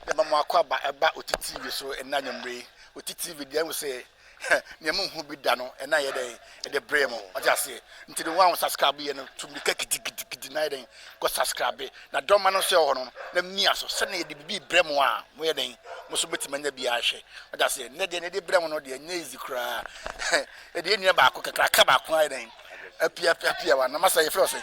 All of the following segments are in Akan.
yɛ ma mo akwaaba ɛba oti TV so ɛna anwummere yi. Oti TV deɛ ɛho sɛ nea mo nhu bi da no ɛna yɛ dɛn ɛde brɛ mo ɔte aseɛ. Nti no wɔn a subscribe yɛ no tu mirika gidigidigidi na yɛ dɛn kɔ subscribe na dɔma no nso ɛwɔ hɔ no na mia so sɛnea yɛde bibi brɛ mo a mo yɛ dɛn mo nso bɛtumi anya bi ahwɛ ɔte aseɛ. Nnɛ deɛ na yɛde brɛ mo no deɛ nyɛ easy koraa yɛde yɛ nua baako kakraka baako ayɛ dɛn apia apia wa na masa yɛfrɛ ɔsɛ.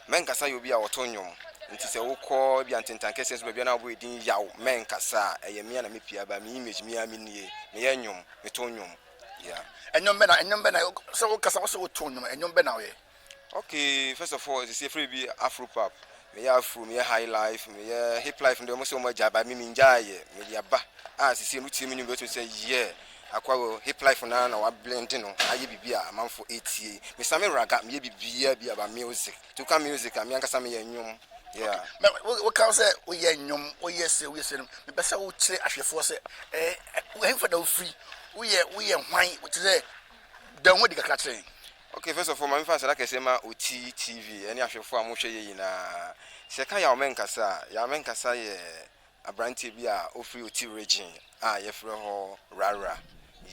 Mɛnkasa yɛ obi a ɔto nnwom, nti sɛ wokɔ ebia ntentan kɛseɛ so baabi a na wobɔ yɛ din yaw, mɛnkasa, ɛyɛ me a na mepia ba, me image me ara menie, meyɛ nnwom, meto nnwom, yeah. Nnwom bɛn na, nnwom bɛn na, sɛ wokasa wose woto nnwom a, nnwom bɛn na woyɛ? Okay, first of all, sisi yɛfrɛ biribi Afropop, meyɛ Afro, meyɛ Highlife, meyɛ Hiplife no deɛ wɔse wɔagyae but me mengyaeɛ, mede aba, a sisi wotie me nnwom deɛ wobɛtumi sɛ yeah, Aquaro, hip life no ara na wa blend no ayɛ biribi a amanfo etie. Me san me raga, meyɛ biribiara bi about music. Nti wo ka music a, me ankasa meyɛ nnwom, yeah. Na wo ka sɛ wo yɛ nnwom, wo yɛ se, wo yɛ se no, me pɛ sɛ wo kyerɛ ahwɛfoɔ sɛ eh, ɛhefa na wo firi, wo yɛ, wo yɛ hwan, wo te sɛ, da wo ho adi kakra kyerɛ yɛn. Okay, first of all, ma me fa aseda kɛseɛ ma Otii TV ɛne ahwɛfoɔ a mo hwɛ yɛ nyinaa. Sɛ yɛ ka Yaw Mɛnkasa a, Yaw Mɛnkasa yɛ Aberanteɛ bi a ɔfiri Oti Regyen a yɛfrɛ hɔ Rarra.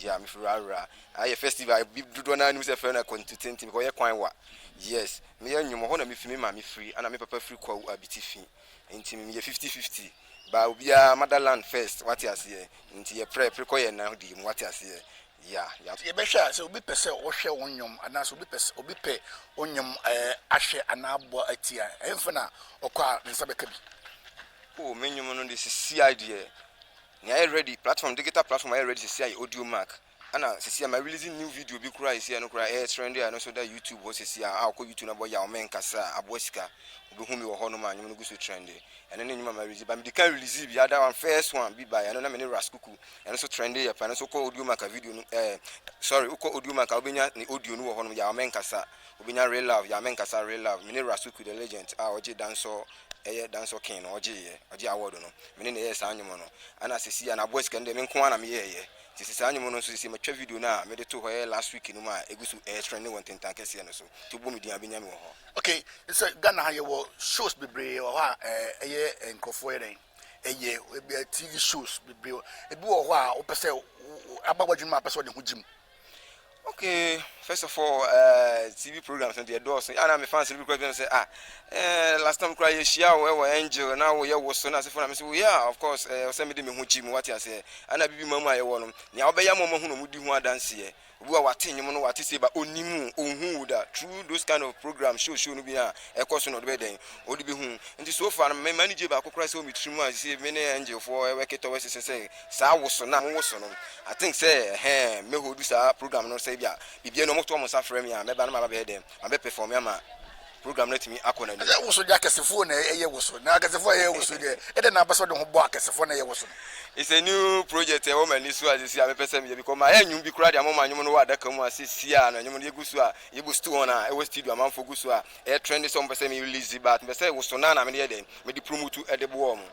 Yeah, mefiri Rarra. Ayɛ festival bi dodoɔ no ara nim sɛ yɛfrɛ no akwantu tenten because ɔyɛ kwan wa. Yes, meyɛ nnwom, ɛhɔ na mefi, me maame firi, ɛna me papa firi Kwawu Abiti fi. Nti meyɛ fifty fifty. But obiara mother land first, wate aseɛ. Nti yɛprɛ, prekɔ yɛn nan di mu, wate aseɛ. Ya, ya. Sɛ yɛbɛhwɛ a, sɛ obi pɛ sɛ ɔhwɛ wo nnwom anaa sɛ obi pɛ sɛ obi pɛ wo nnwom eh, ahwɛ anaa abɔ ati a, ɛhefa na ɔkɔ a ne nsa bɛka bi? Oh, me nnwom no de sesiai deɛ, nea ayɛ ready, platform, digital platform a ayɛ ready sesiai yɛ Audiomack. Ɛna sesiai ma release new video bi koraa a sesiai no koraa ɛyɛ trend a ɛno nso da YouTube hɔ sesiai a wokɔ YouTube na bɔ Yaw Me Nkasa a, aboa sika, wobɛhu me wɔ hɔ nom a nnwom no gu so trend. Ɛno ne nnwom a ma release, but medi kan release bi, ada one, first one bi baeɛ, ɛno na me ne Ras Kuku Ɛno so trɛnde yɛ paa, ɛno so wokɔ Audiomack a video no ɛɛ sorry wokɔ Audiomack a wobɛnya ne audio no wɔ hɔnom Yaw Menkasa, wobɛnya Real Love Yaw Menkasa Real Love, mene Rasuku the Legend a ɔgye dancehall ɛyɛ dancehall king no ɔgyeeɛ, ɔgye award no, mene na ɛyɛɛ saa nnwom no Ɛna sɛsi a Naaboa Sika no deɛ menko ara na meyɛɛyɛ nti sɛ saa nnwom no nso sɛsi matwa video no a mede too hɔ ɛyɛ last week no mu a ɛgu so ɛɛ trɛnde wɔ Ntentan kɛseɛ no so nti wobɔ me din a wobɛnya me wɔ hɔ. Okay, sɛ Ghana ha yɛwɔ shows bebree wɔ hɔ a ɛyɛ nkurɔfoɔ yɛ dɛn? ɛyɛ ɛbi tv shows bebree ebi wɔ hɔ a wopɛ sɛ aba w'adwuma a pɛ sɛ ɔde ho gyim okay first of all uh, tv programs no deɛ dɔɔso ana me fans no bi kora bi sɛ ah eh, last time kora yɛhyia wo ɛwɔ angel na woyɛ wo so na asefo na me sɛ yeah of course eh, sɛ mede me ho gyi mu wate aseɛ ana bibi ma mu a yɛwɔ no nea wobɛyɛ ma ɔmahu no mudi ho adanseɛ Obi wa wate nwom no wate se ba onim wo onhu wo da through those kind of program show show no bi a ɛkɔ so na ɔde bɛyɛ dɛn ɔde bɛ hu nti so far no me manigye baako koraa sɛ wɔ me tiri mu a sese me ne angel foɔ ɛwɛke tɔwɛ sese sɛ saa wo so na mo wo so no I think sɛ ɛhɛɛ mɛ holdu saa program no sɛ bia bibia no ɔmo to ɔmo nsa frɛ me a mɛba na ma ba bɛyɛ dɛn ma bɛ perform ama program no atumi akɔ n'anim. Ɛsɛ woso de akɛsefoɔ na ɛyɛ woso na akɛsefoɔ a ɛyɛ woso deɛ ɛdɛ na abɛsɛ de ho bɔ akɛsefoɔ na ɛyɛ woso no. It's a new project ɛwɔ m'ani so a sisi a mepɛ sɛ meyɛ because mayɛ nnwom bi koraa de ama wɔn nnwom no wɔ adaka mu a sisi a na nnwom no yɛgu so a yɛbu stu wɔn a ɛwɔ studio amanfoɔ gu so a ɛyɛ trend sɛ wɔn pɛ sɛ me release but mepɛ sɛ woso no a na mede yɛ dɛn mede promote de boɔ wɔn.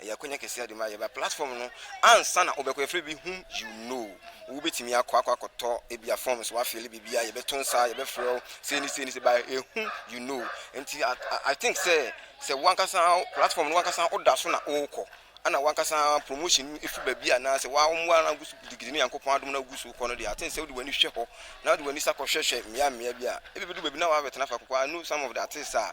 Ɛyɛ akwanya kɛseɛ de ma yɛ ba platform no ansa na wobɛkɔ yɛfrɛ bi whom you know wobɛtumi akɔ akɔ akɔtɔ ebi a forms wafeele biribi a yɛbɛto nsa yɛbɛfrɛ wo sei ne sei ne sei ba ɛyɛ whom you know nti I think sɛ sɛ wankasa platform no wankasa woda so na wokɔ ana wankasa promotion ɛfiri baabi anaasɛ wawomoa no agu so gidigidi ne nyankopɔn adom no agu so kɔ no deɛ aten sɛ wode w'ani hwɛ hɔ na wode w'ani sa kɔhwɛhwɛ mmea mmea bi a ɛbɛbɛdu baabi na wabɛtena fa kɔkɔ I know some of the artists a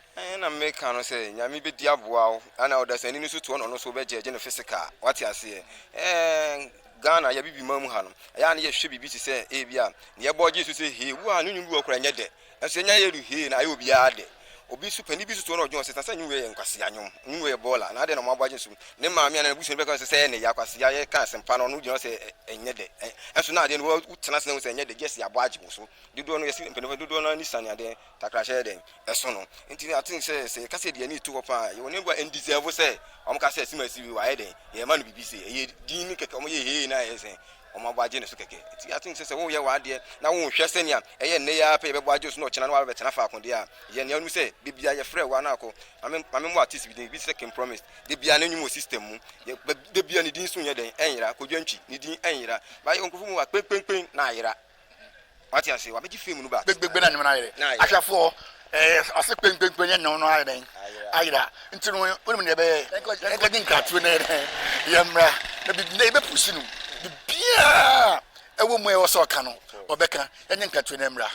Ɛɛ na meka no sɛ Nyame bɛdi aboa wo ana ɔdasani no nso toɔ na ɔno nso wobɛgyɛɛgye no physical wate aseɛ ɛɛ Ghana yɛ bibi man mu ha no ɛyɛ a na yɛhwɛ biribi te sɛ ebi a na yɛbɔ gye so sɛ hee wu a ne nwom bi wɔ kora nyɛ dɛ ɛnso yɛnya yɛ du hee na ayɛ obiara dɛ obi nso panin bi nso toɔ na ɔdwen ɔsɛ sɛ nwom yɛ nkwasea nwom nwom yɛ bɔɔla na adɛn na wɔabɔ agye nso ne maame a na n'abusua no bɛka sɛ sɛ ɛne yɛ akwasea yɛ ka asɛmpa no ɔno gyina sɛ ɛnyɛ dɛ ɛnso na adeɛ no wotena ase na wo sɛ ɛnyɛ dɛ gyesi abɔ agye wo so dodoɔ no yɛsi mpanimfoɔ dodoɔ no ani sane adeɛ Takrahyɛ yɛ dɛn? Ɛso no. Enti na ate sɛ, sɛ yɛka sɛ yɛde yɛn ani reto hɔ paa a, yɛwɔ nneɛma bi a ɛn'deserve sɛ wɔka sɛ Sima Siri wayɛ dɛn? Yɛrema no biribi sei. Ɛyɛ din no kɛkɛ, wɔyɛ hee na ayɛ sɛ wɔabɔ agye ne so kɛkɛ. Enti ate sɛ, sɛ woreyɛ w'adeɛ na wonhwɛ sɛnea ɛyɛ nnɛ yi ara pɛ, yɛbɛbɔ agye wo so na ɔkyena na woabɛtena faako deɛ a, yɛ nea wonim sɛ da biara yɛfrɛ wo a na kɔ. Ma me, ma memmɔ artist bi din, ebi te sɛ King Promise, da biara ne nnwom wɔ system mu, yɛ, ba, da biara ne din so nyɛ dɛn? Ɛnyera. Kodwo Antwi, ne din ɛnyera. Ba, yɛwɔ nkurɔfoɔ bi wɔ hɔ a, kpenkpenkpen na ayera. Wate ase? Wabɛgye fame no back. Gbegbegbegbe na nneɛma no ayere. Na ayera. Ahwɛfoɔ, ɛɛ, ase kpenkpenkpe ne nneɛma no ayɛ dɛn? Ayera. Ayera. Nti no, wonim deɛ ɛbɛyɛ? Yɛnkɔ, yɛnkɔgye nkratoɔ na yɛn, yɛmmra. Na biribi, na yɛbɛpushi no. Biribiara a ɛwɔ mu a ɛwɔ sɛ ɔka no, ɔbɛka. Yɛnyɛ nkratoɔ na yɛmmra.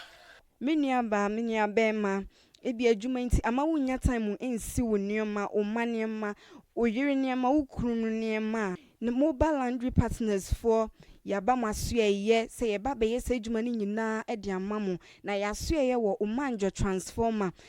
Me nuabaa, me nuabarima, ebia adwuma nti amma wunnya time nsi wo nneɛma, wo mma nneɛma, wo yere nneɛma, wo kunu nneɛma a. Ne Mobile Laundry Partners foɔ, yɛaba mo asoɛeɛ sɛ yɛba abɛyɛ saa adwuma no nyinaa de ama mo. Na yɛn asoɛeɛ wɔ Omanjo Transformer,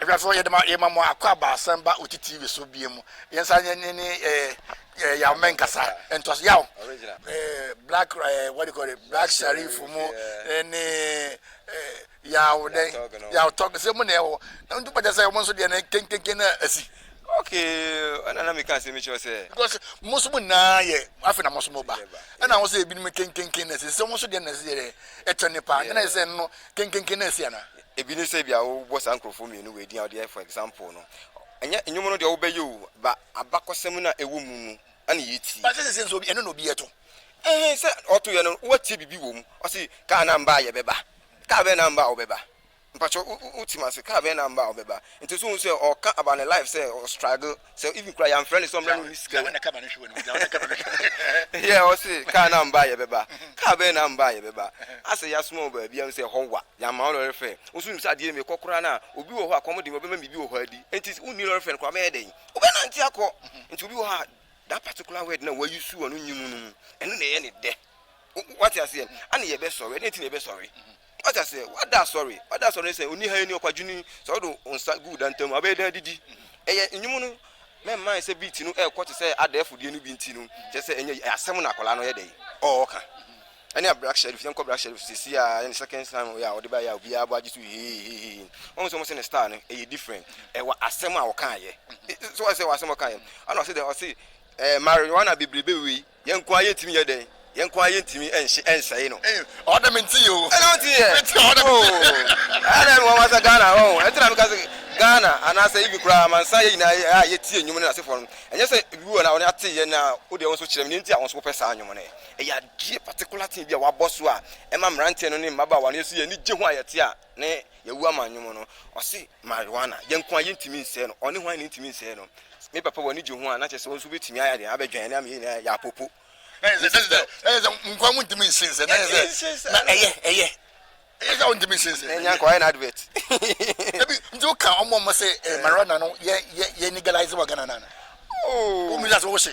Ɛfɛfo, yɛde ma yɛma mo akɔ abaasan ba oti TV so bia mu. Yɛn nsa yɛ ne ne eh, yaw mɛ nkasa ntoaso yaw. Eh, black eh, what do you call it, black sharif mu eh, ne eh, yaw dɛ yaw tɔg sɛ mu na ɛwɔ na ntu pɛkyɛ sɛ mo nso deɛ ne kenkenken na asi. Okay, ɛna na meka asɛm kyerɛ sɛ. Because mo nso mo nyinaa yɛ afei na mo nso mo ba ɛna ho sɛ ebinom kenkenken na asi sɛ mo nso deɛ na ɛsi yɛ ɛtɔ nipa ɛna sɛ no kenkenken na asi ana. Ebi ne sɛ ebia wobɔ saa nkurɔfoɔ mmienu wei din a wode yɛ for example no. Ɛnyɛ nnwom no deɛ wobɛyɛ o, but abakɔsɛm no a ɛwɔ mu no na yɛretie. But sɛ seesei nso ɛno na obi reto. Ɛhe sɛ ɔtoeɛ no woatie biribi wɔ mu. Ɔse kaa no amba a yɛbɛba. Kaa bɛn na amba a wobɛba? Mpakyɛw wote m'ase, kaa bɛn na amba a wobɛba? Nti so wohu sɛ ɔreka about ne life sɛ ɔstruggle. Sɛ even koraa yɛamfrɛ no sɛ ɔmmra na ɔnni sika wɔ. Yeah ɔse car no ammba a yɛbɛba. Car bɛn na ammba a yɛbɛba? Asɛ yɛasoma wo baabi a wonim sɛ ɛhɔ wa, yɛamma wo lɔre fare. Wo nso wonim sɛ adeɛ no mekɔ koraa no a obi wɔ hɔ a kɔm de me a ɔbɛma me biribi wɔ hɔ adi. Enti wonni lɔre fare no koraa wobɛyɛ dɛn? Wobɛnante akɔ. Nti obi wɔ hɔ a that particular word no a wa use wɔ no nyimu no mu, ɛno na ɛyɛ no dɛ. Wo, woate aseɛ? Ɛne yɛbɛsɔre. Ɛdeɛn nti na yɛbɛsɔre? Wate aseɛ? Wada asɔre. Wada asɔre ne sɛ, oniha yi ni, ɔkwadwoni, sɛ wode wo nsa gu wo dantam mu a, wobɛyɛ dɛn adidi? Ɛyɛ nnwom no, mɛmmae sɛ beat no ɛrekɔ te sɛ adɛɛfo deɛ no bi nti no, kyerɛ sɛ ɛnyɛ yie. Asɛm na akwadaa no yɛ dɛn? Ɔɔka. Ɛne a Black Sherif, yɛnkɔ Black Sherif sɛsi a, ɛyɛ ne second time wei a ɔde baeɛ a obiara bɔ agye so heeheeheehe. Wahu sɛ wɔn se ne style no ɛyɛ different. Ɛwɔ asɛm a ɔkaeɛ. So wate sɛ ɛwɔ asɛm a ɔkaeɛ? Ɛna ɔse dɛn? Ɔse ɛɛ marijuana bebrebe wei. Yɛn nko ara yɛntumi nyɛ dɛn? Yɛn nko ara yɛntumi nhye ɛnsɛe no. Ei ɔwɔ dɛ mente yɛ o. Ɛna ɔnte yɛ. Mente ɔwɔ dɛ mente yɛ. Oh ɛyɛ dɛ nwanwa sɛ Ghana ɔho ɛnti na meka sɛ Ghana anaasɛ even koraa amansan yɛ nyinaa a yɛtie nnwom no n'asefoɔ no ɛnyɛ sɛ ebi wɔ no a wɔn ate yɛ na wo deɛ wo nso kyerɛ me nea nti a wo nso wopɛ saa nnwom no ɛyɛ adeɛ particular thing bi a wɔabɔ so a ɛma mmeranteɛ no ne mmabaawa no yɛso yɛn ani gye ho a yɛte a ne yɛwu ama nnwom no ɔse marijuana yɛn nko a yɛntumi nsɛe no ɔne hwan na ntumi nsɛe no me papa wɔ ne gye ho a na kyerɛ sɛ wɔn nso bɛtumi ayɛ deɛ abɛdwan ne ama yɛn nyinaa yɛ apopo na yɛ sɛ sɛ yɛ sɛ nkoa mu ntumi nsen sɛ na yɛ sɛ na ɛyɛ ɛyɛ ɛyɛ sɛ wɔntumi nsen sɛ ɛnyɛ nkoa yɛ na advert ebi nti woka ɔmo ɔmo sɛ marijuana no yɛ yɛ yɛ legalize wɔ Ghana na na ooo omi yɛ sɛ wɔhyɛ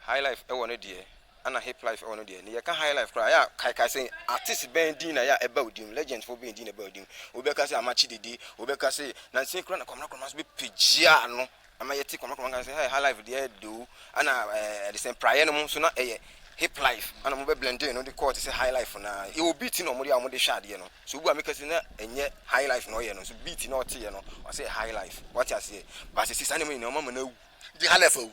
High life ɛwɔ no deɛ ɛna hip life ɛwɔ no deɛ ne yɛka high life koraa ɛyɛ a kae kae sɛ artist bɛn din na ɛyɛ a ɛba odim legend foɔ bɛn din na ɛba odim obi bɛka sɛ amakye dede obi bɛka sɛ nansa koraa na kwamina kwamina nso bɛpagya no ama yɛte kwamina kwamina nka sɛ hey high life deɛ do ɛna ɛde sɛ praeɛ no mu nso na ɛyɛ hip life ɛna mo bɛ blending no de kɔɔ te sɛ high life no a ɛwɔ beat na wɔn de a wɔn de hwɛ adeɛ no so obi a meka sɛ na ɛnyɛ high life na ɔyɛ no so beat na ɔteɛ no ɔsɛ high life wɔte aseɛ baasɛ si saa nneɛma nyinaa wɔn ama no awu de high life awu.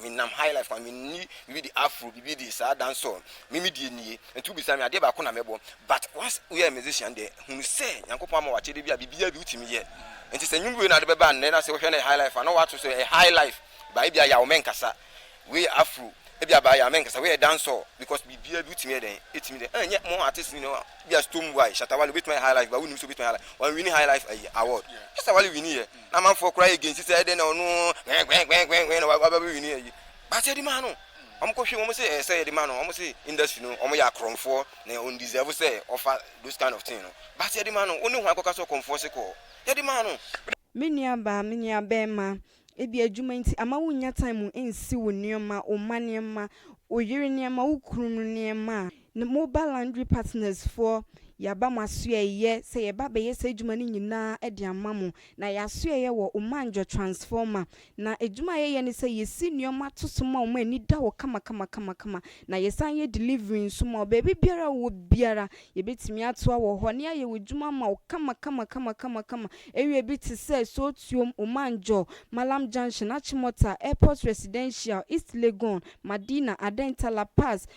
Me nam high life kwan, me nni biribi de afro biribi de saa dancehall me me deɛ nie, nti wo bisa me adeɛ baako na mɛ bɔ but once wo yɛ musician deɛ hunu sɛ Nyankopɔn ama wo akyɛdeɛ bi a biribiara bi wo tumi yɛ nti sɛ nwom wei na wode bɛba nnɛ na sɛ wo hwɛ no yɛ high life a na wo ato so ɛyɛ high life but ebi a yaw mɛ nkasa wei yɛ afro ebi a ba yaw mɛ nkasa wei yɛ dancehall because biribiara bi wo tumi yɛ dɛn ɛtumi dɛn ɛnyɛ mo artist nyina a bi a Stonebwoy Shatta Wale obɛtumi ayɛ high life but wo nim sɛ obɛtumi ayɛ high life wɔn wini high life ayi award Shatta Wale wini yɛ. Na amanfoɔ koraa yɛ gensi sɛ ɛdɛn na ɔno hwɛnhwɛnhwɛnhwɛn na waba bɛwini ayi but yɛde maa no wɔn kɔhwɛ wɔn se ɛsɛ yɛde maa no wɔn se industry no wɔn yɛ akorɔmfoɔ na wɔn deserve sɛ ɔfa those kind of thing no but yɛde maa no wɔn ne hwan kɔka sɛ ɔkɔmfoɔ se kɔɔ yɛde maa no. Me nua baa, me nua bɛɛma, ebia adwuma nti ama wo nnya time nsi wo nneɛma, wo mma nneɛma, wo yere nneɛma, wo kunu nneɛma a. Ne Mobile Laundry Partners foɔ, yɛaba mo asoɛeɛ sɛ yɛba abɛyɛ saa adwuma no nyinaa de ama mo. Na yɛn asoɛeɛ wɔ Omanjo Transformer. Na adwuma a yɛyɛ ne sɛ yɛsi nneɛma to so ma wɔn a ani da hɔ kamakamakamakama. Na yɛsan yɛ delivery nso ma wo. Baabi biara a wowɔ biara, yɛbɛtumi atoa wɔ hɔ ne ayɛ w'adwuma ama wo kamakamakamakama. Area bi te sɛ, Sootuom, Omanjo, Mallam Junction, Achimota, Airport Residential, East Legon, Madina, Adenta, La Paz,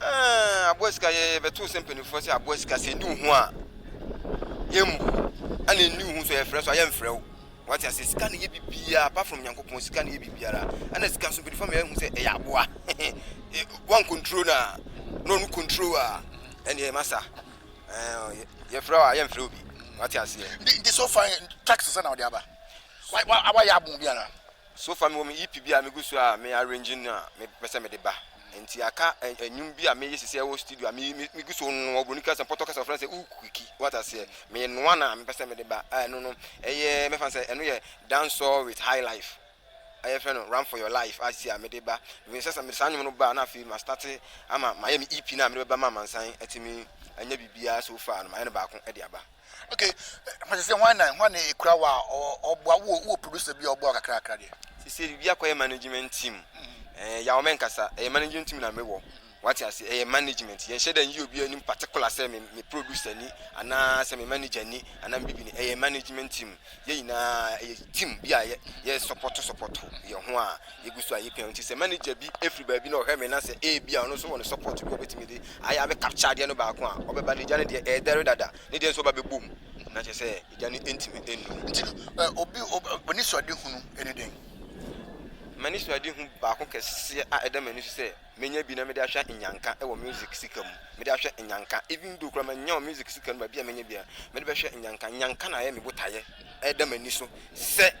Ɛɛ aboa sika yɛ yɛbɛto sɛ mpanimfoɔ sɛ aboa sika sɛ ɛni wo ho a yɛmmu ɛna ɛni wo ho so yɛfrɛ so a yɛmfrɛ wo wate ase sika ne yɛ biribiara apart from nyankopɔn sika ne yɛ biribiara ɛna sika nso mpanimfoɔ meyɛ hu sɛ ɛyɛ aboa wan control no a na ɔno control a ɛneɛ masa yɛfrɛ wo a yɛmfrɛ wo bi wate aseɛ nti so fa tax sɛ na wode aba wayɛ abo biara So far mewɔ me EP bi a megu so a me arrange no a mepɛ sɛ mede ba. Nti aka nnwom bi a meyɛ sisi a ɛwɔ studio a megu so noa, wɔ Broni kasa, Pɔtɔ kasa wɔfrɛ no sɛ Uukiki, woate aseɛ? Meyɛ noa no a mepɛ sɛ mede ba a ɛno no ɛyɛ mɛfa no sɛ ɛno yɛ dancehall with high life a yɛfrɛ no Run for your life a sisi a mede ba. Menim sɛ sɛ mede saa nnwom no ba a na afei ma starte ama mayɛ me EP no a mede bɛba ma amansan atumi anya biribiara so far no mayɛ no baako de aba. Okay, pàṣẹ sẹ wọn na wọn na ekura wa ọboa wo wo producer bi ọboa kakra kakra deɛ. Sisi bi akɔyɛ management team. Mm-hmm. Ɛɛ eh, yawo mɛ nkasa ɛyɛ management team na mɛ wɔ. Mm-hmm. Wate ase ɛyɛ management yɛn hyɛ dɛ nyi obi anim particular sɛ me me producer ni anaa sɛ me manager ni anaa me bibi ni ɛyɛ management team Yɛn nyinaa yɛ team bi a yɛ sɔpɔto sɔpɔto yɛn ho a yɛgu so a yɛpia no nti sɛ manager bi firi baabi na ɔhwɛ me na sɛ ebi a ɔno nso wɔ ne sɔpɔto bi a ɔbɛtumi de ayɛ abɛ capture adeɛ no baako a ɔbɛba no agya no deɛ ɛɛdɛre dada ne deɛ nso ɔba bɛbɔ mu na kyɛ sɛ agya no ntumi nnu no. Nti no obi ɔni suade hunu ɛne dɛn? M'ani suade hu baako kɛseɛ a ɛda m'ani so sɛ. menya bi na mede ahwɛ Nyanka wɔ music sika mu. Mede ahwɛ Nyanka even though koraa mannya wɔ music sika no mu baabi a menya biara, mede bɛhwɛ Nyanka. Nyanka na ayɛ me botaeɛ ɛda m'ani so sɛ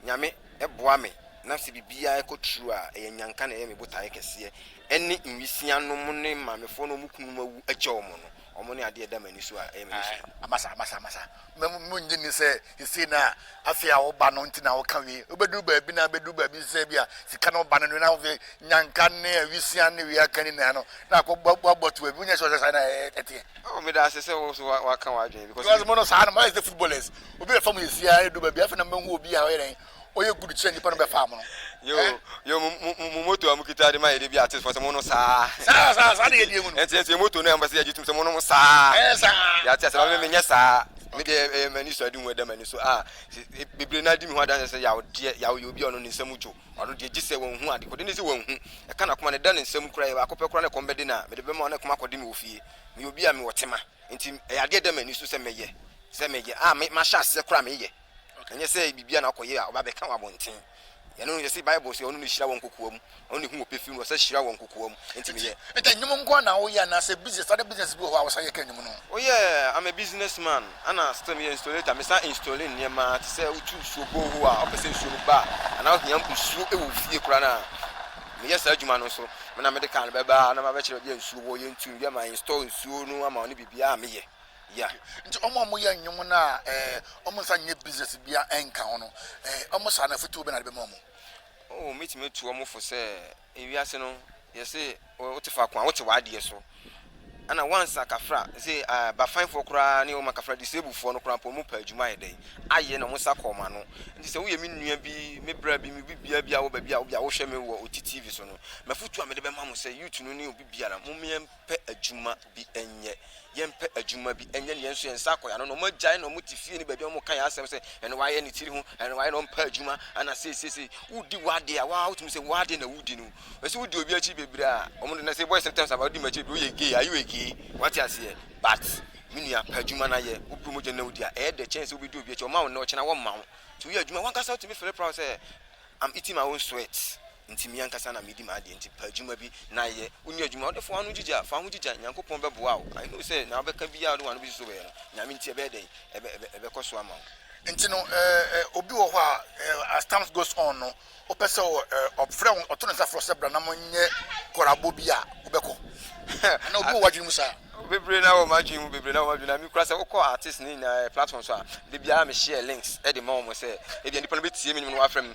Nyame boa me na sɛ biribiara kɔ true a, ɛyɛ Nyanka na ɛyɛ me botaeɛ kɛseɛ ɛne nwisianom ne maamefoɔ no a wɔn kununom awu akyɛ wɔn no. Wɔn ne adeɛ a ɛda m'ani so a ɛyɛ m'ani so. Amasa, amasa, amasa. Mo, monnye nni sɛ seesei na afei a woba no nti na woka wei. Wobɛduru baabi na abɛduru baabi te sɛ ebia sika na woba no de, na afei nyanka ne awisiaa ne wei aka nyinaa no, na akɔbɔ to baabi. Wonyɛ sure sɛ saa na ɛteɛ? Oh, meda ase sɛ wo nso woaka w'adwene because. Because mo no saa na moayɛ te sɛ footballers. Obi bɛfa mo awisiaa na ɛduru baabi a, afei na mobɛhu obi a ɔyɛ dɛn, ɔyɛ good kyerɛ nipa no bɛ fa amono. Yoo eh. Yoo mo mo mo mo moto a mo kita de ma yɛ de bi artist fo sɛ mo no saa. Saa saa saa de yɛ die mu no. Ɛnti ɛnti yɛ moto no a mo pɛ sɛ yɛ gye tum sɛ mo nom saa. Ɛyɛ saa. Yɛ ate asɛ ba me me nyɛ saa. Me deɛ ɛyɛ ma ni so adi ho ɛda ma ni so ah bebree na di me ho adanse sɛ yaw deɛ yaw yɛ obi a ɔno ne nsa mu dwo ɔno deɛ gye sɛ wɔn hu ade kɔde ne sɛ wɔn hu ɛka na kɔma ne da ne nsa mu kura yɛ baako pɛ kura ne kɔm bɛde na me de bɛma ɔne kɔma kɔde me wɔ fie me yɛ obi a me wɔ tema nti ɛyɛ adeɛ ɛda ma ni so sɛ mɛyɛ sɛ mɛyɛ ah me ma hyɛ aseɛ kura me yɛ. Ɛnyɛ sɛ biribi a na ɔkɔyɛ a ɔba abɛka wɔ abɔnten. Ɛno no, yɛse Bible se ɔno na ohyira wɔn kokoam, ɔno na ehu wɔ pefee mu, ɔsan hyira wɔn kokoam. Enti Enti, meyɛ. Peter, nnwom nko ara na woyɛ anaasɛ business, other business bi wɔ hɔ a wosan yɛ ka nnwom no ho? Oh yeah, I'm a business man, ɛna still meyɛ installator, mesan installe nneɛma te sɛ wotu nsuo borehole a wopɛ sɛ nsuo no ba a, anaa wohia nsuo wɔ wo fie koraa no a, meyɛ saa adwuma no nso. Me na mede car no bɛba na mabɛkyerɛ baabi a nsuo wɔ, yɛntu no wie a ma install nsuo no ama wo ne biribiara a meyɛ. Yeah nti wɔn a wɔyɛ nnwom no a eh, wɔn nsa nyɛ business bia ɛnka ho no eh, wɔn saa no afotuo bɛ na de bɛma wɔn? Oh, mɛtumi atu wɔn fo sɛ ewiase no yɛse wote faako a wote w'adeɛ so ɛna once akafra se uh, bafanfoɔ koraa ne wɔn akafra disableffoɔ no koraa mpo wɔn pɛ adwuma ayɛ dɛn ayɛ na wɔn nsa kɔɔ ma no nti sɛ woyɛ me nua bi me bra bi me bibia bi a wɔ baabi a wobia wohwɛ me wɔ oti tv so no mafotu a mede bɛma mo sɛ youth no ne obi biara mo pɛ adwuma bi nyɛ. Yɛmpɛ adwuma bi nyɛ na yɛn nso yɛn nsa akɔ yɛn ano. Na wɔagyae na wɔte fie ne baabi a wɔka yɛn asɛm sɛ ɛno wayɛ ne tiri ho, ɛno wayɛ na ɔmpɛ adwuma, ana seisei wodi w'ade a waa wotumi sɛ w'ade na wodi no. Ɛsɛ wodi obi akyi bebree a wɔn de na sɛ boys sometimes about di m'akyi bebree woyɛ gay are you a gay wate aseɛ but me nua pɛ adwuma no ayɛ wopɛ mogya na wodi a ɛyɛ dɛ kyɛn sɛ wobɛdi obi akyi ɔma wo nnɛ ɔkyena wɔmma wo nti woyɛ adwuma wankasa wotumi feel proud sɛ I'm eating my own sweat. Nti me ankasa na medi m'adeɛ nti pɛ adwuma bi na yɛ wonni adwuma wode foa ano gyigya fa ho gyigya Nyankopɔn bɛboa wo I know sɛ na wobɛka biaa wode wano bɛsi so bɛyɛ no Nyame nti ɛbɛyɛ dɛn ɛbɛkɔ so ama wo. Nti no eh obi wɔ hɔ a as times goes on no wopɛ sɛ ɔfrɛ wo ɔto ne nsa frɛ wo sɛ bra na monyɛ kɔrabo bi a wobɛkɔ anaa obi wɔ w'adwene mu saa? Bebree na wɔ m'adwene mu bebree na wɔ m'adwene na me kura sɛ wokɔ artist ne nyinaa platform so a da biara me share links de ma wɔn sɛ ebia nipa no bɛtie me nwom no wafrɛ me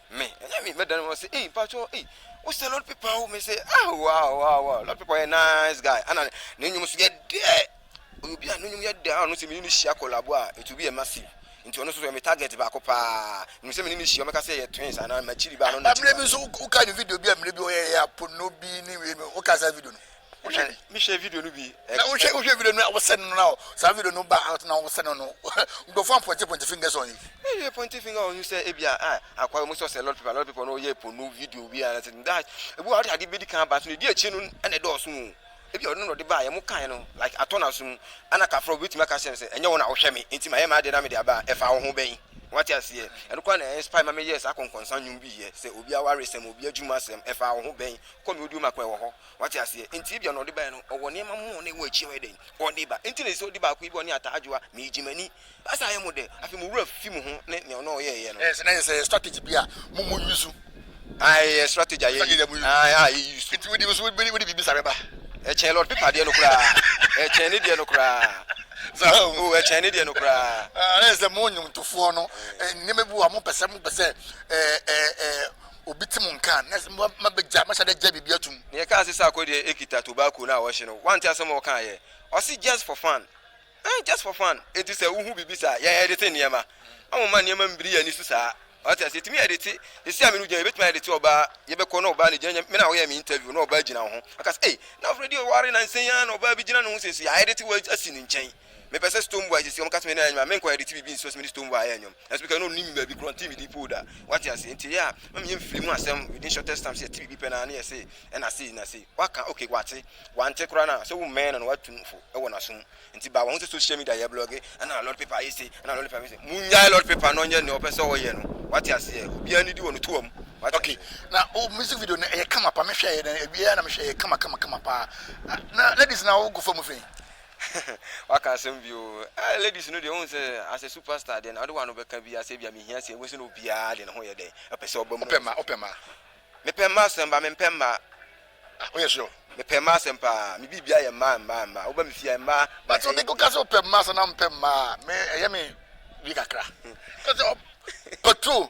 Me, ɛnyɛ me, mɛdane wɔn sɛ, ei, mpakyɛw, ei, wo sɛ Lord Pepa wo? Me se, ah, wow, wow, wow, Lord Pepa yɛ nice guy, ana ne nnwom nso yɛ dɛ, ɔyɛ obi a ne nnwom yɛ dɛ, a ɔno sɛ me ne no hyia collabo a, it will be a massive. nti ɔno nso so yɛ me target baako paa, menim sɛ me ne no hyia, ɔmɛka sɛ yɛyɛ twins, anaa makyiri ba, ana ɔno na kyiri ba. Mmerɛ bi nso wokae ne video bi a mmerɛ bi ɔyɛeɛ a, Pono bi ne wei no, wokae saa video no? wohwɛ ne me hyɛ video no bi eh, na wohwɛ wohwɛ video no a wosɛ no na saa video no ba out na wosɛ no no nkurɔfoɔ ampɔnte pɔnte fingers on you ɛyɛ pɔnte finger on you sɛ ebi a ah, akwa mu sɛ ɔsɛ lot people lot people no yɛ ponu video bi a sɛ that ebi a ɔde ade bɛdi kan ba so na ɛdi akyi no ɛna ɛdɔɔso mu ebi a ɔno na ɔde ba a yɛn mo kan no like atɔ na so mu ɛna kafra obi tumi aka sɛ sɛ ɛnyɛ wɔn na wohwɛ me nti ma yɛ ma adeɛ na me de aba a ɛfa wo ho bɛn wate aseɛ ɛno kora na ɛnspire ma meyɛ saa kɔnkɔnsa nnwom bi yɛ sɛ obi awaresɛm obi adwuma asɛm ɛfa wo ho bɛn kɔ me odio ma kora ɛwɔ hɔ Wate aseɛ? Enti ebia na ɔde baeɛ no, ɔwɔ nneɛma mo a na ɛwɔ akyi a ɔyɛ dɛn? Ɔde ba. Enti na ɛsɛ sɛ ɔdi baako yi bɔ ne ataa adwoa, meegye m'ani. Baasa ayɛ mo dɛ. Afei mo werɛ afi mo ho ne nea ɔne ɔyɛeɛ no. Yes, na ɛyɛ sɛ ɛyɛ strategy bi a mo mo use. Ae, ɛyɛ strategy a yɛ use. Ae, a yɛ use. Enti wode nso wode biribi sare ba? Ɛkyɛn Lord Piper deɛ no koraa. Ɛkyɛn ne deɛ no koraa. Saa o. O, ɛkyɛn ne deɛ no koraa. Ah, na ɛyɛ sɛ mo nnwomtofoɔ no, nneɛma bi wɔ hɔ a mompɛ sɛ, mompɛ sɛ ɛɛ, ɛɛ, ɛɛ, obi tse mo nka a, na mabɛgya, mahyɛ da agya biribi atum. Nea ɛkaa se Sarko deɛ ekita tobacco no a wɔhye no, wante asɛm a ɔkaa yɛ? Ɔse just for fun. Eeh just for fun. Enti sɛ wohu biribi saa, yɛn edete nneɛma. Na wɔmma nneɛma mmiri yɛn ani so saa. Wate ase? Yɛtumi edete, sɛsi a me ne wo gyina yi, yɛbɛtumi aedete ɔbaa, yɛbɛkɔ na ɔbaa no gyina, nyɛ me na woyɛɛ me interview na ɔbaa gyina wo ho. Ɔka sɛ, ei, na Freddie ɔware nansa yi ara na ɔbaa bi gyina ne ho sɛ, nso yɛaedete wo asi ne nkyɛn. Mepɛ sɛ Stonebwoy sisi, wɔka kyerɛ me dɛ maame nkɔ edit biribi nsi hɔ sɛ me ne Stonebwoy ayɛ ndwom. Nanso mekae dɛ onnim me baabi korɔ, ɔnntee me din po da. Wɔate ase? Ntsi eyɛ a, ma menye mfir mu asɛm within shortest time sɛ yɛtse biribi pɛ no ara na yɛse nna sei, nna sei. Wɔaka, okay, wɔatse. Wɔanntse koraa no a, sɛ wommɛn no na wɔatu no fo wɔ n'aso mu. Ntsi ba, wɔahu sɛ social media yɛblɔge, ana Lord Paper ayɛ sei, ana Lord Paper ayɛ sei. Munnyae Lord Paper na ɔnyɛ nea ɔpɛ sɛ ɔyɛ no. Wɔate aseɛ? Obiara ne di wɔ no toa mu. Wɔate Okay, aseɛ? na wo music video no, ɛyɛ kama pa. Mehwɛeɛ na, ɛwieɛ ara na mehwɛeɛ, ɛyɛ kama kama kama paa. Na ladies no a, wogu fam fei? Waka asɛm bio oo. Eh ladies no deɛ wohu sɛ as a super star deɛ na wode wano bɛka biaa sɛ ebia mehia sika wobɛhu sɛ na obiaa deɛ ne ho yɛ dɛn ɔpɛ sɛ ɔba mu. Wopɛ mmaa wopɛ mmaa. Mepɛ mmaa asɛm baa mempɛ mmaa. Ah woyɛ sure. Mepɛ mmaa asɛm paa me biribia yɛ mmaa mmaa mmaa woba me fie a mmaa na But ɛyɛ wo ka sɛ wopɛ mmaa sɛ na wompɛ mmaa a me ɛyɛ me wii kakra. Ka sɛ ɔpɛ patrol.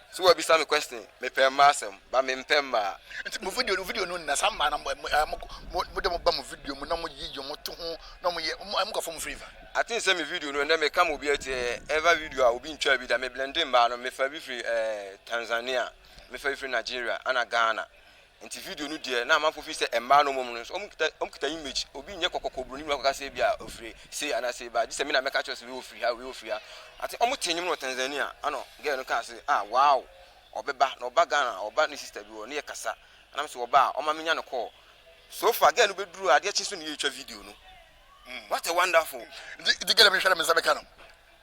So wabisa me question me pɛ mmaa asɛm but me mpɛ mmaa. Nti mo video no video no nna saa mmaa no a mo mo mo de mo ba mo video mu na mo yi yi mo to ho na mo yɛ mo mo kɔ fɔ mo flavour. I think sɛ me video no ɛnɛ me ka ma obi ɛte ɛyɛ ever video a obi ntwaa bi da me blende mmaa no me fa bi firi ɛɛ Tanzania me fa bi firi Nigeria ɛna Ghana Nti video no deɛ na amanfoɔ feel sɛ mmaa no wɔn no nso wɔn kita wɔn kita image obi nyɛ kɔkɔkɔ broni no akɔka sɛ ebi a ofiri sei anaa sei baa gye sɛ me na mɛka kyerɛ sɛ wei ofiri ha wei ofiri ha ate wɔn tee nnwom no wɔ Tanzania ana girl no kaa sɛ ah wow ɔbɛba na ɔba Ghana ɔba ne sister bi hɔ ne yɛ kasa anam sɛ ɔba a ɔma menya no call so far girl no bɛduru adeɛ kye so ne yɛ twa video no what a wonderful. Nti girl no bɛhwɛ na me nsa bɛka no.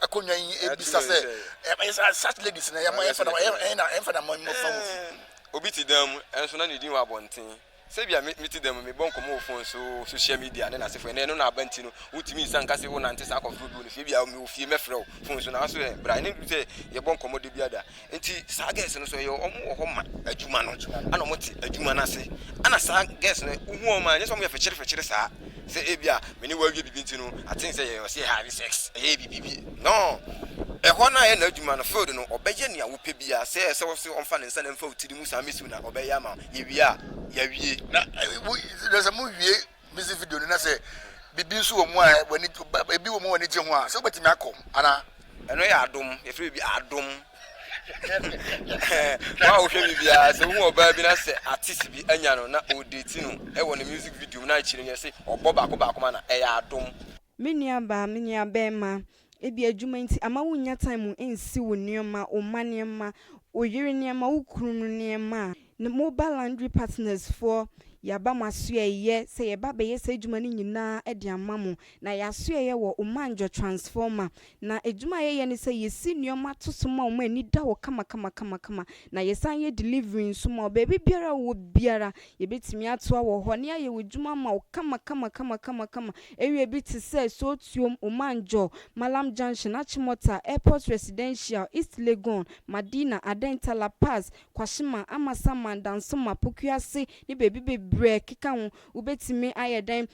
akonnwa yi ebisa sɛ such ladies na yɛma yɛmfa na yɛmfa na ma mu fa mu. Obi te dan mu nso na ne din wɔ abɔnten. Sɛbia me te dan mu mebɔ nkɔmmɔ wɔ phone so, social media ne n'asefo ɛnɛ ɛno na aba nti no wontumi nsan nka sɛ wonante saa akɔfrɛ obi wɔ ne fie. Ebia mewɔ fie mɛfrɛ wo phone so nanso ɛ bra ɛne sɛ yɛbɔ nkɔmmɔ da biara da. Nti saa girls no so ɛyɛ ɔmo wɔ hɔ ma adwuma no ɛna ɔmo te adwuma no ase ɛna saa girls no wohu ɔmo a nyɛ sɛ ɔmo yɛ fɛkyere fɛkyere saa sɛ ebia me ne wo awie bibi nti no I think sɛ yɛ ɔsɛ yɛ have sex ɛyɛ bibi bi no ɛhɔ no a ɛyɛ n'adwuma no field no ɔbɛyɛ nea wopɛ biara sɛ ɛsɛ wo sɛ ɔmfa ne nsa na ɛmfa wo tiri mu saa mesi wo na ɔbɛyɛ ama wo yɛwie a yɛawie na sɛ mo wie Music video no na sɛ biribi nso wɔ mu a w'ani ebi wɔ mu w'ani gye ho a sɛ wobɛtumi akɔ anaa. Ɛno yɛ adom yɛfrɛ biribi adom wɔn a wohwɛ me biara sɛ wohu ɔbaa bi na sɛ artist bi anya no na ɔredate no wɔ ne music video mu na akyire no yɛse ɔbɔ baako baako ma no a ɛyɛ adom. Me nuabaa, me nuabarima, ebia adwuma nti amma wunnya time nsi wo nneɛma, wo mma nneɛma, wo yere nneɛma, wo kunu no nneɛma a. Ne Mobile Laundry Partners foɔ, yɛaba mo asoɛeɛ sɛ yɛreba abɛyɛ saa adwuma no nyinaa de ama mo. Na yɛn asoɛeɛ wɔ Omanjo Transformer, Na adwuma a yɛyɛ ne sɛ yɛsi nnoɔma to so ma wɔn ani da hɔ kamakamakamakama, na yɛsan yɛ delivery nso ma wo. Baabi biara a wowɔ biara, yɛbɛtumi atoa wɔ hɔ, ne ayɛ w'adwuma ama wo kamakamakamakama. Area bi te sɛ, Sootuom, Omanjor, Mallam Junction, Achimota, Airport Residential, East Legon, Madina, Adenta, La Paz, Kwashima, Amasaman, Dansoma, Pokuase, ne baabi bebree a ɛkeka ho. Wobɛtumi ayɛ dɛn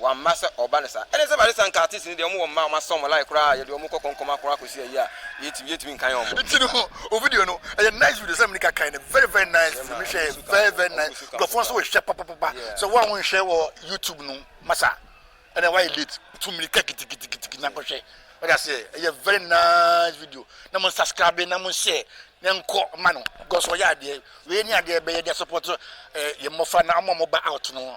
Wamma sɛ ɔba ne saa. Ɛne sɛ Awurade san kaa Tis ne deɛ, wɔn wɔ mma a wɔasɔ wɔn line koraa a yɛde wɔn kɔ kɔnkɔm akorɔn akɔsi ayi a yɛntumi yɛntumi nkan wɔn. Nti no ho o video no ɛyɛ nice video sɛ menika kan no very very nice video me hwɛ yɛ very very nice nkurɔfoɔ nso hwɛ papapapa sɛ wo a wo nhwɛ wɔ YouTube no masa ɛna wayɛ late tu mirika kitikitiki na kɔhwɛ wode aseɛ ɛyɛ very nice video na mo subscribe na mo share na nkɔ ma no because ɔyɛ adeɛ wei ne adeɛ bɛyɛ de support eh, yɛ mmɔfra na ɔmo a mo ba out no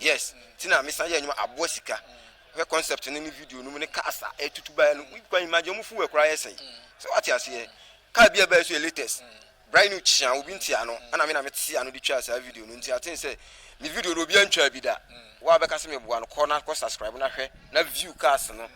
Yes nti na mesan yɛ ndwuma aboa sika hwɛ concept no ne video no mu ne cars a ɛtutu baeɛ no you can imagine ɔmo fuel koraa yɛ sɛe sɛ wate aseɛ car bi a ɛbaeɛ nso yɛ latest brand new kyea obi nte ano ɛna me na mete ano de twaa saa video no nti I think sɛ me video no obiara ntwaa bi da wo a bɛka sɛ meboa no kɔ na kɔ subscribe na hwɛ na view cars no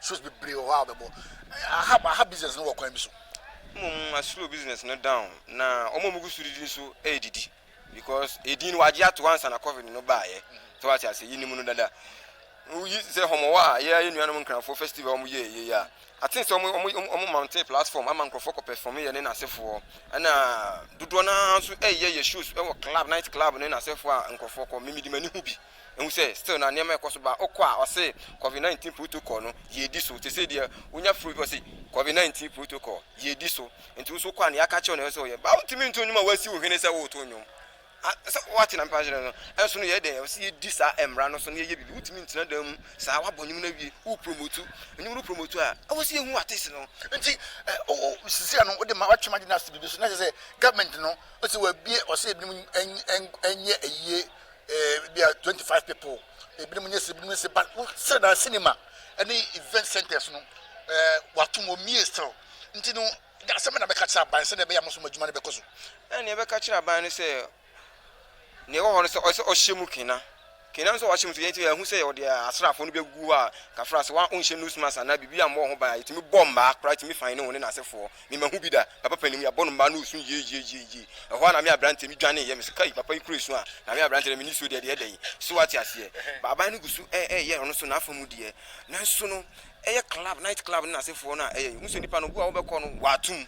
Shows bebree wɔ hɔ a wobɛbɔ. Aha aha business no wɔ kwan bi so. Mmom a slow business no down na wɔn a wɔgu so didi nso redidi because edin no wagye ato ansa na covid no baeɛ. Sɛ wate ase yɛnim no dada. Woyi sɛ wɔn wɔ a yɛ yɛ nuanom nkranfoɔ festival wɔn yɛ yɛ a aten sɛ wɔn wɔn wɔn mountain platform ama nkurɔfoɔ kɔ perform yɛ ne n'asefoɔ ɛna dodoɔ no ara nso ɛyɛ yɛ shows ɛwɔ club night club ne n'asefoɔ a nkurɔfoɔ kɔ mimidi m'ani ho bi. Ehu sɛ still na nneɛma ɛkɔ so ba ɔkɔ a ɔse covid 19 protocol no yɛdi so te sɛ deɛ wonya firi obi ɔse covid 19 protocol yɛdi so nti wo so wokɔ a nea aka kyerɛ na ɛsɛ sɛ ɔyɛ ba wontumi nto nnwom a woasi wo hwene sɛ woreto nnwom a sɛ woate na mpa nkyerɛ no ɛnso no yɛ dɛn ɛwɔ sɛ yɛdi saa mmara no so na yɛyɛ biribi wontumi ntena dan mu saa woabɔ nnwom no awie wo promotu nnwom no promotu a ɛwɔ sɛ yɛhu artist no nti sisi ano wode ma watwe magye no ase biribi so na ɛsɛ sɛ government no ɔsɛ wabie ɔsɛ ebinom ɛnyɛ ayie Eh, bi a twenty five people ebinom nyɛ sɛ ebinom sɛ ba sɛ na cinema ɛne event centers no ɛɛ wato mu omie still nti no de asɛm na bɛka kyerɛ aban sɛ na ɛbɛyɛ amosom adwuma no bɛkɔ so. ɛna ɛbɛka kyerɛ aban no sɛ na ɛwɔ hɔ no sɛ ɔsɛ ɔhyɛ mu kena kena nso ɔhyɛ mu so yɛn ti ɛho sɛ ɔde asraafo no bɛgu hɔ a kafra sɛ wɔn nhyɛ nose mask anaa biribi a mmɔ ho ban a yɛtumi bɔ mmaa koraa tumi fan ne ho ne n'asefoɔ me mahu bi da, papa panin mu, yɛabɔ no mmaa na ɔresu yieieieiei. Ɛhɔ ara na me aberanteɛ, me dwaneeɛ, me se kai papa yi kura esu a, na me aberanteɛ deɛ me nisuo deɛ, deɛ ɛdɛn? So woate aseɛ? Aban no gu so reyɛ ɔno nso n'afa mu deɛ, nanso no, ɛyɛ club, night club ne n'asefoɔ no a ɛyɛ, wohu sɛ nipa no, obi a wobɛkɔ no, wato mu,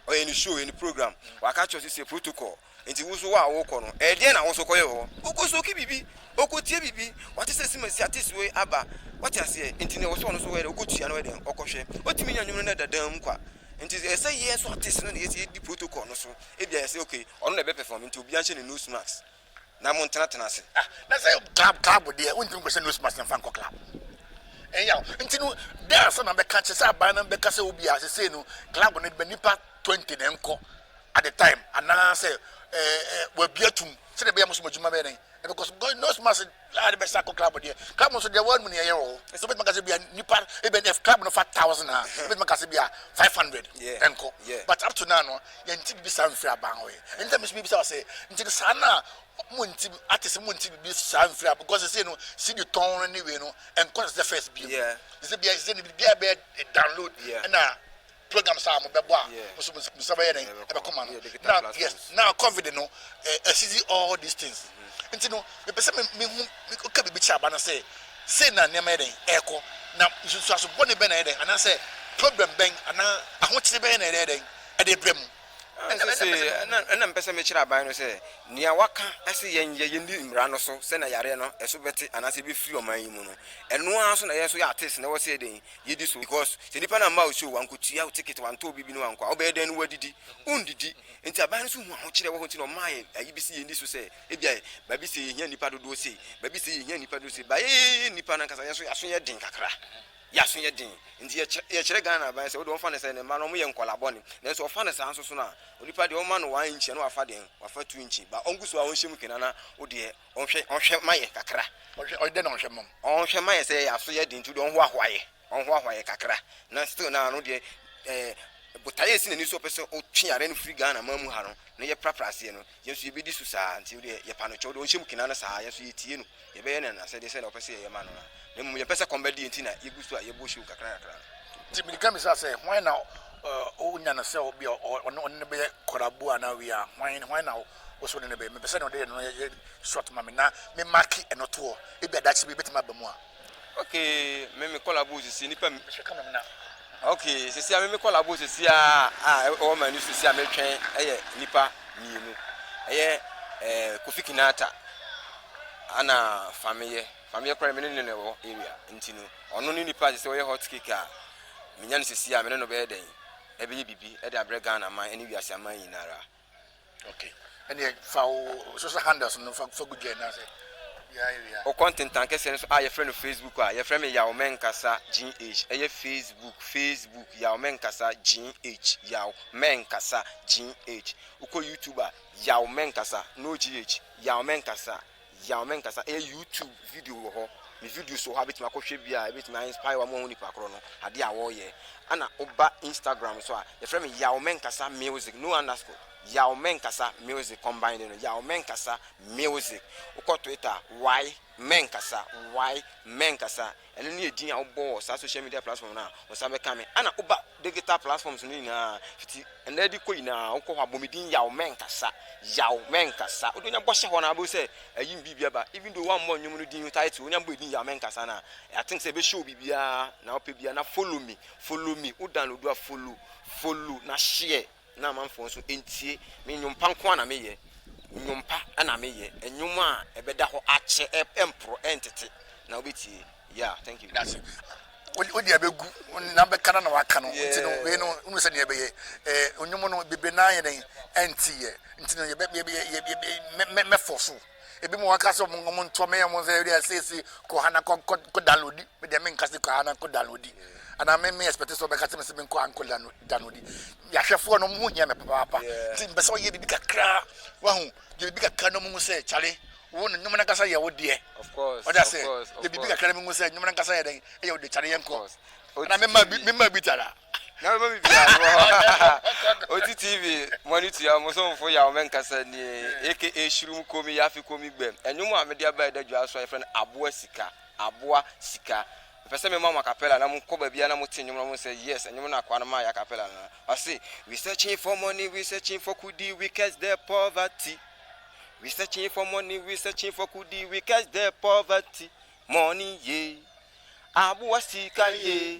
ɔyɛ ne show, ɔyɛ ne program, waka akyerɛ wo sɛ sei, protocol. Enti wo nso hɔ a worekɔ no, ɛdeɛn na wo nso kɔyɛ wɔ hɔ? Wokɔsoki biribi, wokɔtie biribi, wɔate sɛ simasi artist wei aba, woate aseɛ, enti deɛ ɛwɔ sɛ ɔno nso ɔyɛ deɛ, wokɔtua na ɔyɛ deɛn, ɔkɔhwɛ. Ɔtumi nya nnwom no na ɛda dan mu kwa. Enti ɛyɛ sɛ yɛn nso artist no na yɛ yɛdi protocol no so, ebia yɛsɛ ok, ɔno na ɛbɛperform, enti obiara nhyɛ ne nose mask na montenatena ase. Ah, na sɛ club club deɛ, wontumi nkɔhyɛ nose mask na mfa nkɔ club, ɛnyɛ wo nti no, dɛn ansa na mɛka, kyerɛ sɛ aban no bɛka sɛ obia sesei no club no nnipa twenty na ɛnkɔ, at the time anaa sɛ ɛɛ eh, eh, wɔabia tum sɛdeɛ ɛbɛyɛ mo so mo adwuma bɛyɛ dɛn ɛbɛkɔ so because nose mask a de bɛsa kɔ club deɛ club nso deɛ wɔn mu ne ɛyɛ wɔ hɔ nso bɛtuma kasa bia nipa ebɛn dɛ club no fa thousand a bɛtuma kasa bia five hundred ɛnkɔ but up to now no yɛn ti bibi saa nfiri aban hɔ yɛ ɛn tɛ mi nso bibi saa sɛ nti no saa na mo nti ate sɛ mo nti bibi saa nfiri aban because sɛ no si di tɔn no ne wei no ɛnkɔ sɛ first bi yɛ sɛ bia sɛ ne bia bɛ download ɛna programs a wɔn bɛbɔ a nso mo nsa bɛyɛ dɛn ɛbɛkɔ ma no na yes na covid no ɛsisi all these things mm-hmm. nti no mepɛ sɛ mehu ka biribi kyerɛ aba no sɛ sei na nneɛma yɛ dɛn ɛrekɔ na nsusuaso bɔne bɛn na yɛ dɛn anaasɛ problem bɛn anaa ahokyere bɛn na yɛ dɛn ɛde brɛ mu ɛna mpɛ sɛ mekyerɛ aban no sɛ nea waka ɛsɛ yɛnyɛ yɛni mmara no so sɛna yareɛ no ɛso bɛte anaasɛ ɛbɛfiri ɔman yi mu no ɛno ara so na yɛ so yɛ ates na ɛwɔ sɛ yɛdɛn Yɛdi so because sɛ nipa no amma wo show, wankotua wo ticket, wantɔ wo biribi na wankɔ a, wobɛyɛ dɛn na woadidi? Wondidi. Nti aban no nso hu ahokyerɛ wɔ hɔ nti na ɔmaa yɛn ayi bi sɛ yɛnni so sɛ ebia baabi sei yɛhia nnipa dodoɔ sei, baabi sei yɛhia nnipa dodoɔ sei, but yɛyɛ nnipa no ankasa yɛn nso yɛn aso yɛ den kakra. Yɛn aso yɛ den. Nti yɛkyerɛ yɛkyerɛ Ghana aban sɛ wode wɔmfa no sɛ ne mma no wɔyɛ nkwadaa bɔne. Nanso wɔfa no saa nso so no a, onipa deɛ wɔma no one inch a na wafa dɛn? Wafa two inch. But ɔngu so a ɔnhyɛ mu kena na wo deɛ Ɔnhwɛ ɔnhwɛ ma yɛ kakra. Ɔhwɛ ɔyɛ dɛ na ɔnhwɛ mɔm. Ɔnhwɛ ma yɛ sɛ yɛ aso yɛ den nti ɔnhoahoa yɛ. Ɔnhoahoa yɛ kakra na still na ano deɛ ɛɛ botaeɛ esi n'ani so ɔpɛ sɛ ɔtwe yare no firi Ghana man mu ha no na yɛ prapra aseɛ no yɛ nso yɛbɛdi so saa nti wodeɛ yɛ pa no kyɛw deɛ ɔnhyɛ mu kena no saa yɛ nso yɛ tie no yɛ bɛyɛ no n'asɛdeɛ sɛdeɛ ɔpɛ sɛ yɛyɛ ma no no na mmom yɛmpɛ sɛ kɔm bɛde yɛ nti na yɛgu so a yɛbɔ show kakra kakra no. Nti mede ka bisa sɛ hwan na ɔnya no sɛ ɔne ɔne no bɛyɛ kɔrabo anaa wei a hwan hwan na Ɔsɔ ne nɛbɛ. Mepɛ sɛ nea ɔde yɛ no no yɛ short ma me na me make ɛno toɔ. Ebia daakye bi ɛbɛtumi aba mu a. Okay me me kɔla bow sisi nipa mi. Hwɛ camera mu na. Okay sisi a me me kɔla bow sisi a a ɛwɔ m'ani so sisi a metwɛn ɛyɛ nipa mmienu. Ɛyɛ ɛɛ Kofi Kinata ana Fameyɛ. Fameyɛ koraa me ne no na ɛwɔ area nti no ɔno ne nipa a sisi ɔyɛ hot cake a menya no sisi a me ne no bɛyɛ dɛn ɛbɛyɛ bibi ɛde abrɛ Ghana man ɛne wiase aman nyinara. Wo kɔntentan kɛseɛ no so a yɛfrɛ no Facebook a, yɛfrɛ me Yaw Mɛnkasa GH. Ɛyɛ Facebook, Facebook, Yaw Mɛnkasa GH, Yaw Mɛnkasa GH. Wokɔ YouTube a, Yaw Mɛnkasa, no GH, Yaw Mɛnkasa. Yaw me nkasa, ɛyɛ YouTube video wɔ hɔ, me videos wɔ hɔ a wobɛtumi akɔhwɛ bi a ɛbɛtumi a inspire wo ama woahu nipa korɔ no, adeɛ a wɔreyɛ. Ɛna woba Instagram so a, yɛfrɛ me Yaw me nkasa music, no underscore, Yaw me nkasa music combined no, Yaw me nkasa music. Wokɔ Twitter a, Yay me nkasa, Yay me nkasa. Ɛno ne edin a wobɔ wɔ saa social media platform no a wɔsan bɛka me. Ana woba digital platforms no nyinaa fiti ɛnnɛ de kɔ nyinaa wokɔ hɔ a bɔ me din yaw mɛnkasa yaw mɛnkasa wode wonya bɔ hyɛ hɔ na wobɛhu sɛ ayi me biribi aba even though woammɔ nnwom no din no title wonya bɔ edin yaw mɛnkasa no a I think sɛ ɛbɛhyɛ wo biribiara na wopɛ biara na follow me follow me wo download a follow follow na share na amanfoɔ nso ntie me nnwom pa nko ara na meyɛ nnwom pa na meyɛ nnwom a ɛbɛda hɔ akyɛ ɛmporɔ ɛntete na wobɛtie yeah thank you. That's it. wode abɛgu na bɛka no na waka no nti no wei no wonu sɛ neɛ ɛbɛyɛ ɔnwom no bebre naa yɛ dɛn ɛnti yɛ nti no mɛfɔ so Ebi mo waka sɛ ɔmo ɔmo ntoɔ meyɛ ɔmo nsɛ ɛdi asiesie kɔ ha na kɔ kɔ kɔ downloadi me deɛ me nka sɛ kɔ ha na kɔ downloadi anaa me me expect sɛ ɔbɛka sɛ me sɛ me nkɔ ha nkɔ downloadi yahwɛfoɔ no ɔmo ho hia me papaapa nti mpɛ sɛ ɔyɛ bibi kakra wahu yɛ bibi kakra na ɔmo hu sɛ kyale wo no nyɔmɔ nankasa yɛ wo deɛ ɔde asɛ yɛ bibi kakra na ɔmo hu sɛ nyɔmɔ nankasa yɛ dɛn ɛyɛ wo deɛ kyale yɛ nkɔ ɛna me ma bi me ma bi tara na bɛma me biaa mewɔ hɔ ɔti tv mo ani tua mo somfo yaw me nkasa nie aka hyirum komi yafe komi gbɛm ɛnwom a mede aba ɛda dwa so a yɛfrɛ no aboa sika aboa sika mepɛ sɛ mema mo acapella na mokɔ baabia na mote nnwom no mo sɛ yes ɛnwom no akoa no ma yɛ acapella no ɔse we searching for money we searching for kudi we curse the poverty we searching for money we searching for kudi we curse the poverty money ye aboa sika ye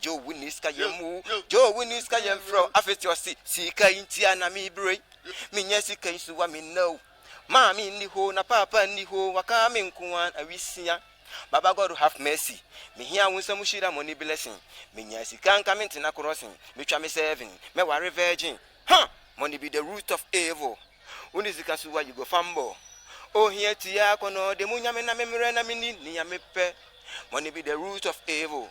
Joe wo ni sika yɛn mu o Joe wo ni sika yɛn frɛ o afei ti ɔsi sika yi nti a na mi bere yi mi nya sika yi so wa mi nna o maame nni hoo na paapa nni hoo waka mi nko an awi sia baba God have mercy mi hia wo nsam hyira money blessing mi nya sika nka mi ntena crossing mi twa mi serving mɛ ware virgin huh money be the root of evil wo ni sika so wa you go fumble o hia ti a kɔ na ɔde mu nya mi na mi mmerɛ na mi ni ni ya mi pɛ money be the root of evil.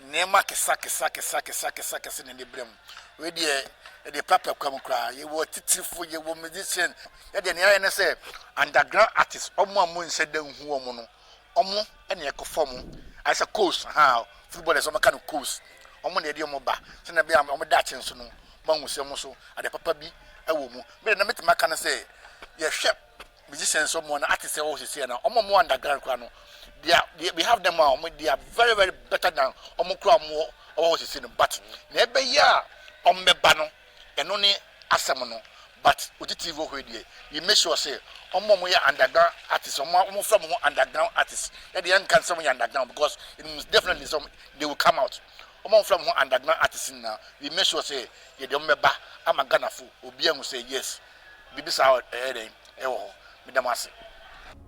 Nneɛma kesakesakesakesakesakese na ɛde brɛ mu. Wei deɛ ɛde papa kwam koraa. Yɛwɔ atitirifo, yɛwɔ musician. Yɛ deɛ nea yɛayɛ ne sɛ underground artist, wɔn a monhyɛ da nhu wɔn no, wɔn na yɛkɔfa wɔn. Ayɛ sɛ coach, ahaa, footballers wɔka no coach. Wɔn na yɛde wɔn ba sɛnea ɛbɛyɛ a wɔn daakye nso no, wɔahu sɛ wɔn nso ade papa bi wɔ mu. Me deɛ nea mɛtumi aka ne sɛ yɛhwɛ musicians ɔmo na artists ɛwɔ sisi na ɔmo ɔmo underground kura no they are they, we have them a ɔmo they are very very better than ɔmo kura ɔmo ɔwɔ sisi no but na ɛbɛyɛ a ɔmo bɛba no ɛno ne asɛm no but oti tv wɔ hɔ deɛ we make sure sɛ ɔmo ɔmo yɛ underground artists ɔmo ɔmo fɛ mo ho underground artists ɛde yɛn nka nsɛm yɛ underground because it means definitely some they will come out ɔmo ɔmo fɛ mo ho underground artists na we make sure sɛ yɛde ɔmo bɛba ama ghana fo obi ɛho sɛ yes Biribi saa wɔ ɛyɛ dɛn? Ɛwɔ hɔ. Meda mo ase.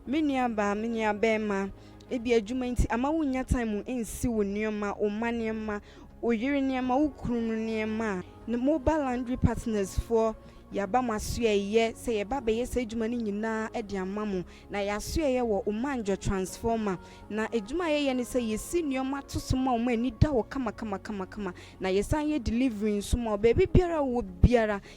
Me nua baa, me nua bɛɛma, ebia adwuma nti ama wo nnya time nsi wo nneɛma, wo mma nneɛma, wo yere nneɛma, wo kunu no nneɛma a. Ne mobile laundry partners foɔ, yɛaba mo asoɛeɛ sɛ yɛba abɛyɛ saa adwuma no nyinaa de ama mo. Na yɛ asoɛeɛ wɔ Omanjo Transformer. Na adwuma a yɛyɛ ne sɛ yɛsi nneɛma to so ma wo ma ani da hɔ kama kama kama kama. Na yɛsan yɛ delivery nso ma wo baabi biara a wowɔ biara.